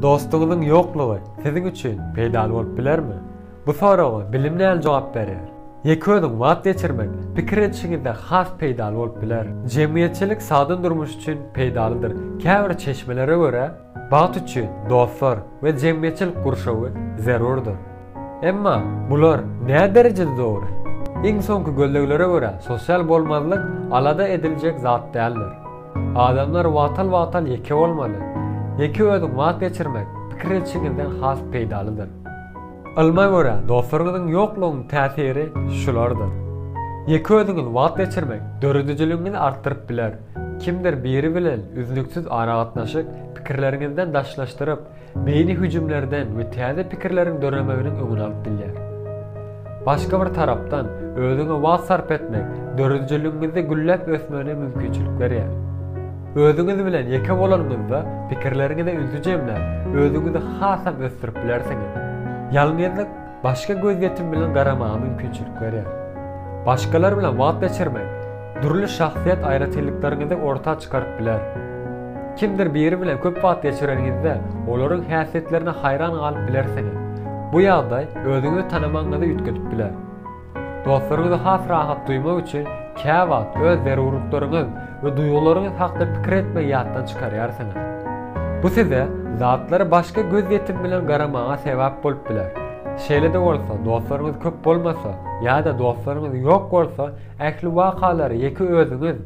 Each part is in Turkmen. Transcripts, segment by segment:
Dostuňyzyň ýoklugy siziň üçin peýdaly bolup bilermi? Bu soraga bilim näl jogap berýär? Ýeke-özüň wagt geçirmek pikir edişiňizde has peýdaly bolup biler. Jemgyýetçilik sagdyn durmuş üçin peýdalydyr. Käbir çeşmelere görä, bagt üçin dostlar we jemgyýetçilik gurşawy zerurdyr. Emma bular näderejede dogry? Iň soňky gözleglere görä, sosial bolmazlyk alada ediljek zat däldir. Adamlar wagtal-wagtal ýeke bolmaly. Ýeke özüň wagt geçirmek pikir edişiňizden has peýdalydyr. Ylma görä, dostlaryňyzyň ýoklugynyň täsiri şulardyr. Ýeke özüňiz wagt geçirmek döredijiligiňizi artdyryp biler. Kimdir biri bilen üznüksiz aragatnaşyk pikirleriňizden daşlaşdyryp, beýni hüjümlerden we täze pikirleriň döremeginiň öňüni alyp bilýär. Başga bir tarapdan, özüňe wagt sarp etmek döredijiligiňizde gülläp ösmegine mümkinçilik berýär. Özüňiz bilen ýeke bolanyňyzda pikirleriňize ünsi jemläp, özüňizi hasam ösdürip bilersiňiz. Ýalňyzlyk Başga gözýetim bilen garamaga mümkinçilik berýär. Başgalar bilen wagt geçirmek dürli şahsyýet aýratynlyklaryňyzy orta çykaryp biler. Kimdir biri bilen köp wagt geçireniňizde olaryň häsiýetlerine haýran galyp bilersiňiz. Bu ýagdaý özüňizi tanamagyňyzy üýtgedip biler. Dostlaryňyzy has rahat duýmak üçin käwagt öz zerurlyklaryňyz we duýgularyňyz hakda pikir etmegi ýatdan çykarýarsyňyz. Bu size zatlara başga gözýetim bilen garamaga sebäp bolup biler. Şeýle-de bolsa, dostlaryňyz köp bolmasa ýa-da dostlaryňyz ýok bolsa, ähli wakalary ýeke özüňiz,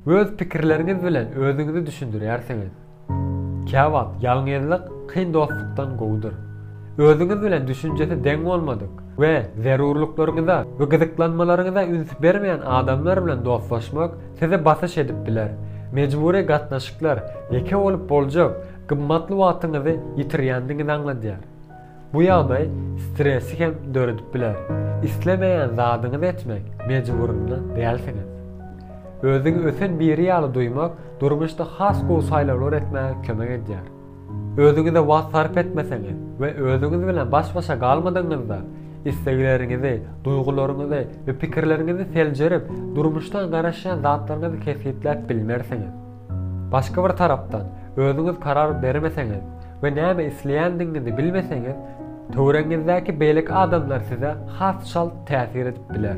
öz pikirleriňiz bilen özüňizi düşündirýärsiňiz. Käwagt ýalňyzlyk kyn dostlukdan gowudyr. Özüňiz bilen düşünjesi deň bolmadyk we zerurlyklaryňyza we gyzyklanmalaryňyza üns bermeýän adamlar bilen dostlaşmak sizi basyş edip biler. Mejbury gatnaşyklar ýeke bolup boljak gymmatly wagtyňyzy ýitirýändigiňizi aňladýar. Bu ýagdaý stresi hem döredip biler. Islemeýän zadyňyzy etmek mejburynda dälsiňiz. Özüňi ösen biri ýaly duýmak durmuşda has gowy saýlawlar etmäge kömek edýär. Özüňize wagt sarp etmeseňiz we özüňiz bilen baş-başa galmadygyňyzda, islegleriňizi, duýgularyňyzy we pikirleriňizi seljerip, durmuşdan garaşýan zatlaryňyzy kesgitläp bilmersiňiz. Başga bir tarapdan, özüňiz karar bermeseňiz we näme isleýändigiňizi bilmeseňiz, töweregiňizdäki beýleki adamlar size has çalt täsir edip biler.